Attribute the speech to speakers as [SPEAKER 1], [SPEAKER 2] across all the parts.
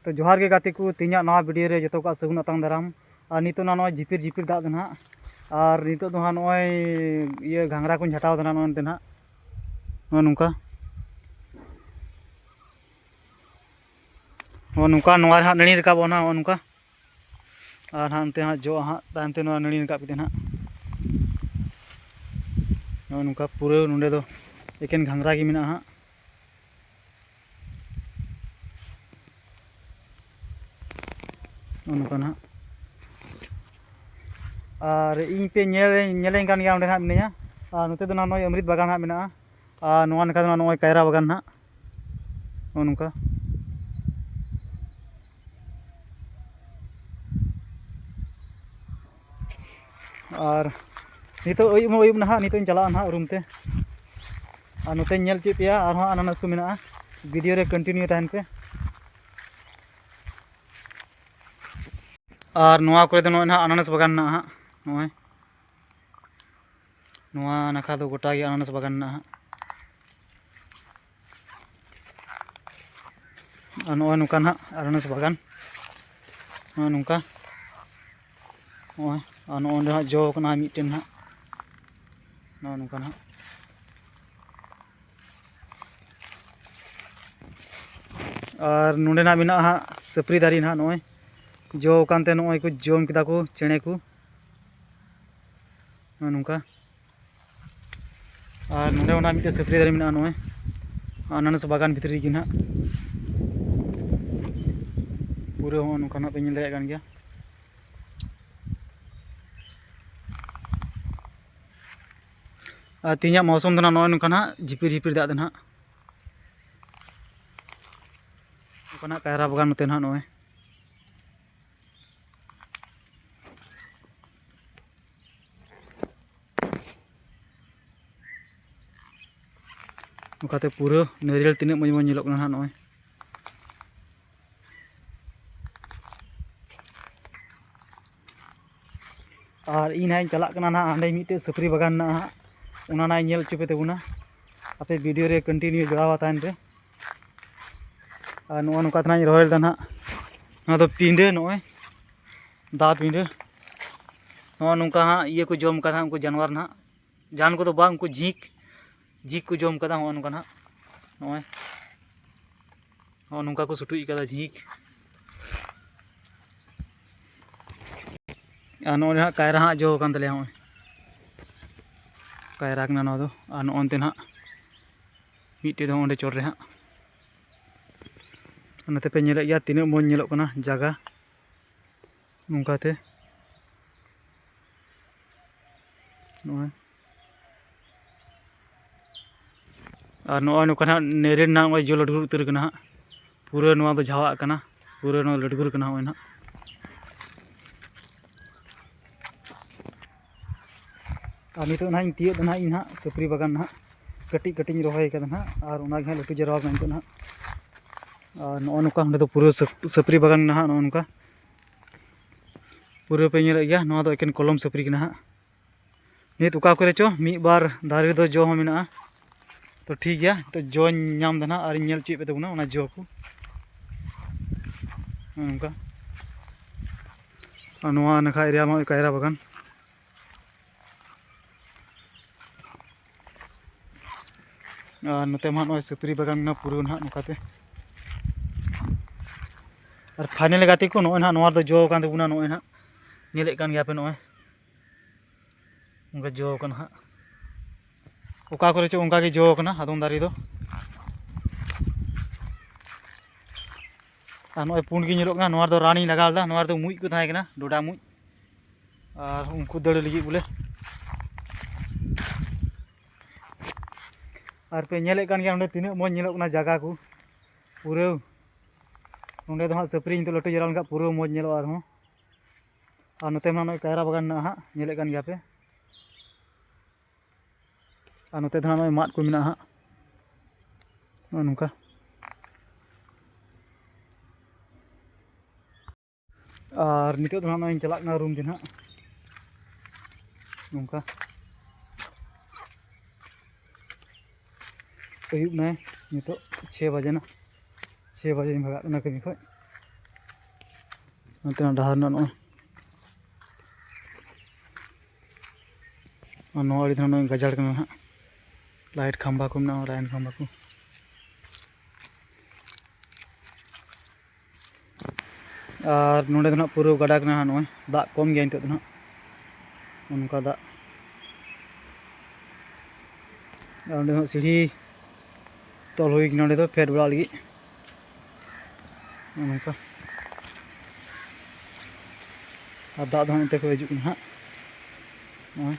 [SPEAKER 1] ᱛᱚ ᱡᱚᱦᱟᱨ ᱜᱮ ᱜᱟᱛᱮ ᱠᱚ ᱛᱮᱦᱮᱧᱟᱜ ᱱᱚᱣᱟ ᱵᱷᱤᱰᱤᱭᱳ ᱨᱮ ᱡᱚᱛᱚ ᱠᱚᱣᱟᱜ ᱥᱟᱹᱜᱩᱱ ᱟᱛᱟᱝ ᱫᱟᱨᱟᱢ ᱟᱨ ᱱᱤᱛᱚᱜ ᱱᱟᱜ ᱱᱚᱜᱼᱚᱭ ᱡᱷᱤᱯᱤᱨ ᱡᱷᱤᱯᱤᱨ ᱫᱟᱜ ᱫᱚ ᱱᱟᱜ ᱟᱨ ᱱᱤᱛᱚᱜ ᱫᱚ ᱦᱟᱸᱜ ᱱᱚᱜᱼᱚᱭ ᱤᱭᱟᱹ ᱜᱷᱟᱝᱨᱟ ᱠᱚᱧ ᱡᱷᱟᱴᱟᱣ ᱫᱟ ᱱᱟᱜ ᱱᱚᱜᱼᱚᱭ ᱱᱚᱛᱮ ᱱᱟᱜ ᱱᱚᱜᱼᱚᱭ ᱱᱚᱝᱠᱟ ᱱᱚᱜᱼᱚᱭ ᱱᱚᱝᱠᱟ ᱱᱚᱣᱟ ᱨᱮ ᱦᱟᱸᱜ ᱱᱟᱹᱲᱤ ᱨᱟᱠᱟᱵᱚᱜᱼᱟ ᱱᱟᱜ ᱱᱚᱜᱼᱚᱭ ᱱᱚᱝᱠᱟ ᱟᱨ ᱦᱟᱸᱜ ᱱᱚᱛᱮ ᱦᱟᱸᱜ ᱡᱚᱜᱼᱟ ᱦᱟᱸᱜ ᱛᱟᱭᱚᱢ ᱛᱮ ᱱᱚᱣᱟ ᱱᱟᱹᱲᱤ ᱨᱟᱠᱟᱵ ᱠᱟᱛᱮ ᱱᱟᱜ ᱱᱚᱜᱼᱚᱭ ᱱᱚᱝᱠᱟ ᱯᱩᱨᱟᱹ ᱱᱚᱸᱰᱮ ᱫᱚ ᱮᱠᱮᱱ ᱜᱷᱟᱝᱨᱟ ᱜᱮ ᱢᱮᱱᱟᱜᱼᱟ ᱦᱟᱸᱜ ᱱᱚᱝᱠᱟ ᱱᱟᱦᱟᱜ ᱟᱨ ᱤᱧ ᱯᱮ ᱧᱮᱞ ᱧᱮᱞᱮᱧ ᱠᱟᱱ ᱜᱮᱭᱟ ᱚᱸᱰᱮ ᱱᱟᱦᱟᱜ ᱢᱤᱱᱟᱹᱧᱟ ᱟᱨ ᱱᱚᱛᱮ ᱫᱚ ᱱᱟᱦᱟᱜ ᱱᱚᱜᱼᱚᱭ ᱟᱢᱨᱤᱛ ᱵᱟᱜᱟᱱ ᱱᱟᱦᱟᱜ ᱢᱮᱱᱟᱜᱼᱟ ᱟᱨ ᱱᱚᱣᱟ ᱱᱟᱠᱷᱟ ᱫᱚ ᱱᱚᱜᱼᱚᱭ ᱠᱟᱭᱨᱟ ᱵᱟᱜᱟᱱ ᱱᱟᱦᱟᱜ ᱱᱚᱜᱼᱚ ᱱᱚᱝᱠᱟ ᱟᱨ ᱱᱤᱛᱚᱜ ᱟᱹᱭᱩᱵ ᱦᱚᱸ ᱟᱹᱭᱩᱵ ᱱᱟᱦᱟᱜ ᱱᱤᱛᱚᱜ ᱤᱧ ᱪᱟᱞᱟᱜᱼᱟ ᱱᱟᱦᱟᱜ ᱨᱩᱢ ᱛᱮ ᱟᱨ ᱱᱚᱛᱮᱧ ᱧᱮᱞ ᱪᱮᱫ ᱯᱮᱭᱟ ᱟᱨᱦᱚᱸ ᱟᱱᱟᱱᱟᱥ ᱠᱚ ᱢᱮᱱᱟᱜᱼᱟ ᱵᱷᱤᱰᱤᱭᱳ ᱨᱮ ᱠᱚᱱᱴᱤᱱᱤᱭᱩ ᱛᱟᱦᱮᱱ ᱯᱮ ᱟᱨ ᱱᱚᱣᱟ ᱠᱚᱨᱮ ᱫᱚ ᱱᱚᱜᱼᱚᱭ ᱱᱟᱦᱟᱜ ᱟᱱᱟᱱᱟᱥ ᱵᱟᱜᱟᱱ ᱢᱮᱱᱟᱜᱼᱟ ᱦᱟᱸᱜ ᱱᱚᱜᱼᱚᱭ ᱱᱚᱣᱟ ᱱᱟᱠᱷᱟ ᱫᱚ ᱜᱚᱴᱟ ᱜᱮ ᱟᱱᱟᱱᱟᱥ ᱵᱟᱜᱟᱱ ᱢᱮᱱᱟᱜᱼᱟ ᱦᱟᱸᱜ ᱟᱨ ᱱᱚᱜᱼᱚᱭ ᱱᱚᱝᱠᱟ ᱱᱟᱦᱟᱜ ᱟᱱᱟᱱᱟᱥ ᱵᱟᱜᱟᱱ ᱱᱚᱜᱼᱚᱭ ᱱᱚᱝᱠᱟ ᱱᱚᱜᱼᱚᱭ ᱟᱨ ᱱᱚᱜᱼᱚ ᱱᱚᱸᱰᱮ ᱦᱟᱸᱜ ᱡᱚ ᱠᱟᱱᱟ ᱢᱤᱫᱴᱮᱱ ᱦᱟᱸᱜ ᱱᱚᱜᱼᱚ ᱱᱚᱝᱠᱟ ᱦᱟᱸᱜ ᱟᱨ ᱱᱚᱸᱰᱮ ᱱᱟᱜ ᱢᱮᱱᱟᱜᱼᱟ ᱦᱟᱸᱜ ᱥᱟᱹᱯᱨᱤ ᱫᱟᱨᱮ ᱱᱟᱜ ᱱᱚᱜᱼᱚᱭ ᱡᱚ ᱟᱠᱟᱱᱛᱮ ᱱᱚᱜᱼᱚᱭ ᱠᱚ ᱡᱚᱢ ᱠᱮᱫᱟ ᱠᱚ ᱪᱮᱬᱮ ᱠᱚ ᱱᱚᱜᱼᱚ ᱱᱚᱝᱠᱟ ᱟᱨ ᱱᱚᱰᱮ ᱚᱱᱟ ᱢᱤᱫᱴᱮᱱ ᱥᱟᱹᱯᱨᱤ ᱫᱟᱨᱮ ᱢᱮᱱᱟᱜᱼᱟ ᱱᱚᱜᱼᱚᱭ ᱟᱱᱟᱱᱟᱥ ᱵᱟᱜᱟᱱ ᱵᱷᱤᱛᱨᱤ ᱨᱮᱜᱮ ᱱᱟᱦᱟᱜ ᱯᱩᱨᱟᱹ ᱦᱚᱸ ᱱᱚᱝᱠᱟ ᱱᱟᱦᱟᱜ ᱯᱮ ᱧᱮᱞ ᱫᱟᱲᱮᱭᱟᱜ ᱠᱟᱱ ᱜᱮᱭᱟ ᱟᱨ ᱛᱮᱦᱮᱧᱟᱜ ᱢᱚᱣᱥᱚᱢ ᱫᱚ ᱱᱚᱜᱼᱚᱭ ᱱᱚᱝᱠᱟ ᱱᱟᱦᱟᱜ ᱡᱷᱤᱯᱤᱨ ᱡᱷᱤᱯᱤᱨ ᱫᱟᱜ ᱫᱚ ᱱᱟᱦᱟᱜ ᱱᱚᱝᱠᱟᱱᱟᱜ ᱠᱟᱭᱨᱟ ᱵᱟᱜᱟᱱ ᱱᱚᱛᱮ ᱱᱟᱦᱟᱜ ᱱᱚᱜᱼᱚᱭ ᱱᱚᱝᱠᱟᱛᱮ ᱯᱩᱨᱟᱹ ᱱᱟᱹᱨᱤᱭᱟᱹᱞ ᱛᱤᱱᱟᱹᱜ ᱢᱚᱡᱽ ᱢᱚᱡᱽ ᱧᱮᱞᱚᱜ ᱠᱟᱱᱟ ᱦᱟᱸᱜ ᱱᱚᱜᱼᱚᱭ ᱟᱨ ᱤᱧ ᱦᱟᱸᱜ ᱤᱧ ᱪᱟᱞᱟᱜ ᱠᱟᱱᱟ ᱱᱟᱦᱟᱜ ᱦᱟᱸᱰᱮ ᱢᱤᱫᱴᱮᱡ ᱥᱟᱹᱯᱨᱤ ᱵᱟᱜᱟᱱ ᱢᱮᱱᱟᱜᱼᱟ ᱦᱟᱸᱜ ᱚᱱᱟ ᱱᱟᱦᱟᱜ ᱤᱧ ᱧᱮᱞ ᱦᱚᱪᱚ ᱯᱮ ᱛᱟᱵᱚᱱᱟ ᱟᱯᱮ ᱵᱷᱤᱰᱤᱭᱳ ᱨᱮ ᱠᱚᱱᱴᱤᱱᱤᱭᱩ ᱡᱚᱲᱟᱣ ᱛᱟᱦᱮᱱ ᱯᱮ ᱟᱨ ᱱᱚᱜᱼᱚ ᱱᱚᱝᱠᱟ ᱛᱮᱱᱟᱜ ᱤᱧ ᱨᱚᱦᱚᱭ ᱞᱮᱫᱟ ᱱᱟᱦᱟᱜ ᱱᱚᱣᱟ ᱫᱚ ᱯᱤᱸᱰᱟᱹ ᱱᱚᱜᱼᱚᱭ ᱫᱟ ᱯᱤᱸᱰᱟᱹ ᱱᱚᱜᱼᱚ ᱱᱚᱝᱠᱟ ᱦᱟᱸᱜ ᱤᱭᱟᱹ ᱠᱚ ᱡᱚᱢ ᱠᱟᱫᱟ ᱩᱱᱠᱩ ᱡᱟᱱᱣᱟᱨ ᱱᱟᱦᱟᱜ ᱡᱟᱱ ᱠᱚᱫᱚ ᱵᱟᱝ ᱩᱱᱠᱩ ᱡᱷᱤᱸᱠ ᱡᱷᱤᱸᱠ ᱠᱚ ᱡᱚᱢ ᱠᱟᱫᱟ ᱱᱚᱜᱼᱚ ᱱᱚᱝᱠᱟ ᱱᱟᱦᱟᱜ ᱱᱚᱜᱼᱚᱭ ᱱᱚᱜᱼᱚ ᱱᱚᱝᱠᱟ ᱠᱚ ᱥᱩᱴᱩᱡ ᱠᱟᱫᱟ ᱡᱷᱤᱸᱠ ᱟᱨ ᱱᱚᱜᱼᱚᱭ ᱦᱟᱸᱜ ᱠᱟᱭᱨᱟ ᱦᱟᱸᱜ ᱡᱚ ᱟᱠᱟᱱ ᱛᱟᱞᱮᱭᱟ ᱱᱚᱜᱼᱚᱭ ᱠᱟᱭᱨᱟ ᱠᱟᱱᱟ ᱱᱚᱣᱟ ᱫᱚ ᱟᱨ ᱱᱚᱜᱼᱚ ᱱᱚᱛᱮ ᱱᱟᱦᱟᱜ ᱢᱤᱫᱴᱮᱡ ᱫᱚ ᱚᱸᱰᱮ ᱪᱚᱴ ᱨᱮ ᱦᱟᱸᱜ ᱚᱱᱟᱛᱮ ᱯᱮ ᱧᱮᱞᱮᱫ ᱜᱮᱭᱟ ᱛᱤᱱᱟᱹᱜ ᱢᱚᱡᱽ ᱧᱮᱞᱚᱜ ᱠᱟᱱᱟ ᱡᱟᱭᱜᱟ ᱱᱚᱝᱠᱟᱛᱮ ᱱᱚᱜᱼᱚᱭ ᱟᱨ ᱱᱚᱜᱼᱚᱭ ᱱᱚᱝᱠᱟ ᱦᱟᱸᱜ ᱱᱮᱨᱮ ᱨᱮᱱᱟᱜ ᱱᱚᱜᱼᱚᱭ ᱡᱚ ᱞᱟᱹᱰᱩ ᱩᱛᱟᱹᱨ ᱠᱟᱱᱟ ᱦᱟᱸᱜ ᱯᱩᱨᱟᱹ ᱱᱚᱣᱟ ᱫᱚ ᱡᱷᱟᱣᱟᱜ ᱠᱟᱱᱟ ᱯᱩᱨᱟᱹ ᱱᱚᱣᱟ ᱞᱟᱹᱰᱜᱩᱨ ᱠᱟᱱᱟ ᱱᱚᱜᱼᱚᱭ ᱦᱟᱸᱜ ᱟᱨ ᱱᱤᱛᱚᱜ ᱱᱟᱦᱟᱜ ᱤᱧ ᱛᱤᱭᱳᱜ ᱫᱟ ᱱᱟᱦᱟᱜ ᱤᱧ ᱱᱟᱦᱟᱜ ᱥᱩᱠᱨᱤ ᱵᱟᱜᱟᱱ ᱱᱟᱦᱟᱜ ᱠᱟᱹᱴᱤᱡ ᱠᱟᱹᱴᱤᱡ ᱤᱧ ᱨᱚᱦᱚᱭ ᱠᱟᱫᱟ ᱱᱟᱦᱟᱜ ᱟᱨ ᱚᱱᱟᱜᱮ ᱱᱟᱦᱟᱜ ᱞᱟᱹᱴᱩ ᱡᱟᱣᱨᱟ ᱟᱠᱟᱱᱟ ᱱᱤᱛᱚᱜ ᱱᱟᱦᱟᱜ ᱟᱨ ᱱᱚᱜᱼᱚ ᱱᱚᱝᱠᱟ ᱚᱸᱰᱮ ᱫᱚ ᱯᱩᱨᱟᱹ ᱥᱟᱹᱯᱨᱤ ᱵᱟᱜᱟᱱ ᱱᱟᱦᱟᱜ ᱱᱚᱜᱼᱚ ᱱᱚᱝᱠᱟ ᱯᱩᱨᱟᱹ ᱯᱮ ᱧᱮᱞᱮᱫ ᱜᱮᱭᱟ ᱱᱚᱣᱟ ᱫᱚ ᱮᱠᱮᱱ ᱠᱚᱞᱚᱢ ᱥᱟᱹᱯᱨᱤ ᱜᱮ ᱱᱟᱦᱟᱜ ᱱᱤᱛ ᱚᱠᱟ ᱠᱚᱨᱮ ᱪᱚ ᱢᱤᱫ ᱵᱟᱨ ᱫᱟᱨᱮ ᱨᱮᱫᱚ ᱡᱚ ᱦᱚᱸ ᱢᱮᱱᱟᱜᱼᱟ ᱛᱚ ᱴᱷᱤᱠ ᱜᱮᱭᱟ ᱛᱚ ᱡᱚᱧ ᱧᱟᱢ ᱫᱟ ᱱᱟᱦᱟᱜ ᱟᱨᱤᱧ ᱧᱮᱞ ᱦᱚᱪᱚᱭᱮᱫ ᱯᱮ ᱛᱟᱵᱚᱱᱟ ᱚᱱᱟ ᱡᱚ ᱠᱚ ᱱᱚᱝᱠᱟ ᱟᱨ ᱱᱚᱣᱟ ᱱᱟᱠᱷᱟ ᱮᱨᱤᱭᱟ ᱢᱟ ᱠᱟᱭᱨᱟ ᱵᱟᱜᱟᱱ ᱟᱨ ᱱᱚᱛᱮ ᱢᱟ ᱱᱚᱜᱼᱚᱭ ᱥᱩᱯᱨᱤ ᱵᱟᱜᱟᱱ ᱢᱮᱱᱟᱜᱼᱟ ᱯᱩᱨᱟᱹ ᱱᱟᱦᱟᱜ ᱱᱚᱝᱠᱟᱛᱮ ᱟᱨ ᱯᱷᱟᱭᱱᱮᱞ ᱜᱟᱛᱮ ᱠᱚ ᱱᱚᱜᱼᱚᱭ ᱱᱟᱦᱟᱜ ᱱᱚᱣᱟ ᱨᱮᱫᱚ ᱡᱚ ᱟᱠᱟᱱ ᱛᱟᱵᱚᱱᱟ ᱱᱚᱜᱼᱚᱭ ᱱᱟᱦᱟᱜ ᱧᱮᱞᱮᱫ ᱠᱟᱱ ᱜᱮᱭᱟᱯᱮ ᱱᱚᱜᱼᱚᱭ ᱚᱱᱠᱟ ᱡᱚ ᱠᱟᱱᱟ ᱦᱟᱸᱜ ᱚᱠᱟ ᱠᱚᱨᱮ ᱪᱚ ᱚᱱᱠᱟ ᱜᱮ ᱡᱚ ᱠᱟᱱᱟ ᱟᱫᱚᱢ ᱫᱟᱨᱮ ᱫᱚ ᱟᱨ ᱱᱚᱜᱼᱚᱭ ᱯᱩᱸᱰ ᱜᱮ ᱧᱮᱞᱚᱜ ᱠᱟᱱᱟ ᱱᱚᱣᱟ ᱨᱮᱫᱚ ᱨᱟᱱᱤᱧ ᱞᱟᱜᱟᱣ ᱞᱮᱫᱟ ᱱᱚᱣᱟ ᱨᱮᱫᱚ ᱢᱩᱡ ᱠᱚ ᱛᱟᱦᱮᱸ ᱠᱟᱱᱟ ᱰᱚᱰᱟ ᱢᱩᱡ ᱟᱨ ᱩᱱᱠᱩ ᱫᱟᱹᱲ ᱞᱟᱹᱜᱤᱫ ᱵᱚᱞᱮ ᱟᱨ ᱯᱮ ᱧᱮᱞᱮᱫ ᱠᱟᱱ ᱜᱮᱭᱟ ᱱᱚᱰᱮ ᱛᱤᱱᱟᱹᱜ ᱢᱚᱡᱽ ᱧᱮᱞᱚᱜ ᱠᱟᱱᱟ ᱡᱟᱭᱜᱟ ᱠᱚ ᱯᱩᱨᱟᱹ ᱱᱚᱰᱮ ᱫᱚ ᱦᱟᱸᱜ ᱥᱟᱹᱯᱨᱤ ᱱᱤᱛᱚᱜ ᱞᱟᱹᱴᱩ ᱡᱟᱣᱨᱟ ᱞᱮᱱᱠᱷᱟᱱ ᱯᱩᱨᱟᱹ ᱢᱚᱡᱽ ᱧᱮᱞᱚᱜᱼᱟ ᱟᱨᱦᱚᱸ ᱟᱨ ᱱᱚᱛᱮ ᱢᱟ ᱱᱚᱜᱼᱚᱭ ᱠᱟᱭᱨᱟ ᱵᱟᱜᱟᱱ ᱢᱮᱱᱟᱜᱼᱟ ᱦᱟᱸᱜ ᱧᱮᱞᱮᱫ ᱠᱟᱱ ᱜᱮᱭᱟ ᱯᱮ ᱟᱨ ᱱᱚᱛᱮ ᱫᱚ ᱦᱟᱸᱜ ᱱᱚᱜᱼᱚᱭ ᱢᱟᱫ ᱠᱚ ᱢᱮᱱᱟᱜᱼᱟ ᱦᱟᱸᱜ ᱱᱚᱜᱼᱚ ᱱᱚᱝᱠᱟ ᱟᱨ ᱱᱤᱛᱚᱜ ᱫᱚ ᱦᱟᱸᱜ ᱱᱚᱜᱼᱚᱭ ᱪᱟᱞᱟᱜ ᱠᱟᱱᱟ ᱨᱩᱢ ᱛᱮ ᱦᱟᱸᱜ ᱱᱚᱝᱠᱟ ᱟᱹᱭᱩᱵ ᱱᱟᱭ ᱱᱤᱛᱚᱜ ᱪᱷᱮ ᱵᱟᱡᱮ ᱱᱟ ᱪᱷᱮ ᱵᱟᱡᱮᱧ ᱵᱷᱟᱜᱟᱜ ᱠᱟᱱᱟ ᱠᱟᱹᱢᱤ ᱠᱷᱚᱡ ᱱᱚᱛᱮᱱᱟᱜ ᱰᱟᱦᱟᱨ ᱨᱮᱱᱟᱜ ᱱᱚᱜᱼᱚᱭ ᱟᱨ ᱱᱚᱣᱟ ᱟᱹᱰᱤ ᱫᱷᱟᱣ ᱜᱟᱡᱟᱲ ᱠᱟᱱᱟ ᱦᱟᱸᱜ ᱞᱟᱭᱤᱴ ᱠᱷᱟᱢᱵᱟ ᱠᱚ ᱢᱮᱱᱟᱜᱼᱟ ᱞᱟᱭᱤᱱ ᱠᱷᱟᱢᱵᱟ ᱠᱚ ᱟᱨ ᱱᱚᱰᱮ ᱫᱚ ᱱᱟᱜ ᱯᱩᱨᱟᱹ ᱜᱟᱰᱟ ᱠᱟᱱᱟ ᱱᱚᱜᱼᱚᱭ ᱫᱟᱜ ᱠᱚᱢ ᱜᱮᱭᱟ ᱱᱤᱛᱚᱜ ᱫᱚ ᱱᱟᱜ ᱚᱱᱠᱟ ᱫᱟᱜ ᱟᱨ ᱚᱸᱰᱮ ᱦᱚᱸ ᱥᱤᱲᱦᱤ ᱛᱚᱞ ᱦᱩᱭ ᱠᱟᱱᱟ ᱚᱸᱰᱮ ᱫᱚ ᱯᱷᱮᱰ ᱵᱟᱲᱟᱜ ᱞᱟᱹᱜᱤᱫ ᱱᱚᱝᱠᱟ ᱟᱨ ᱫᱟᱜ ᱫᱚ ᱦᱟᱸᱜ ᱚᱱᱛᱮ ᱠᱷᱚᱡ ᱦᱤᱡᱩᱜ ᱠᱟᱱᱟ ᱦᱟᱸᱜ ᱱᱚᱜᱼᱚᱭ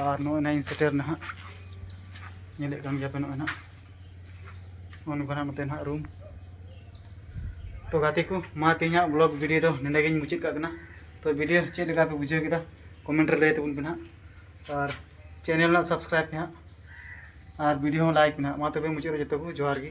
[SPEAKER 1] ᱟᱨ ᱱᱚᱜᱼᱚᱭ ᱱᱟᱦᱟᱜ ᱤᱧ ᱥᱮᱴᱮᱨ ᱱᱟᱦᱟᱜ ᱧᱮᱞᱮᱫ ᱠᱟᱱ ᱜᱮᱭᱟᱯᱮ ᱱᱚᱜᱼᱚᱭ ᱱᱟᱦᱟᱜ ᱱᱚᱜᱼᱚ ᱱᱚᱝᱠᱟ ᱱᱟᱦᱟᱜ ᱱᱚᱛᱮ ᱱᱟᱦᱟᱜ ᱨᱩᱢ ᱛᱚ ᱜᱟᱛᱮ ᱠᱚ ᱢᱟ ᱛᱮᱦᱮᱧᱟᱜ ᱵᱞᱚᱜ ᱵᱷᱤᱰᱤᱭᱳ ᱫᱚ ᱱᱚᱸᱰᱮ ᱜᱤᱧ ᱢᱩᱪᱟᱹᱫ ᱠᱟᱜ ᱠᱟᱱᱟ ᱛᱚ ᱵᱷᱤᱰᱤᱭᱳ ᱪᱮᱫ ᱞᱮᱠᱟ ᱯᱮ ᱵᱩᱡᱷᱟᱹᱣ ᱠᱮᱫᱟ ᱠᱚᱢᱮᱱᱴ ᱨᱮ ᱞᱟᱹᱭ ᱛᱟᱵᱚᱱ ᱯᱮ ᱱᱟᱦᱟᱜ ᱟᱨ ᱪᱮᱱᱮᱞ ᱨᱮᱱᱟᱜ ᱥᱟᱵᱥᱠᱨᱟᱭᱤᱵᱽ ᱯᱮ ᱱᱟᱦᱟᱜ ᱟᱨ ᱵᱷᱤᱰᱤᱭᱳ ᱦᱚᱸ ᱞᱟᱭᱤᱠ ᱯᱮ ᱱᱟᱦᱟᱜ ᱢᱟ ᱛᱚᱵᱮ ᱢᱩᱪᱟᱹᱫ ᱨᱮ ᱡᱚᱛᱚ ᱠᱚ ᱡᱚᱦᱟᱨ ᱜᱮ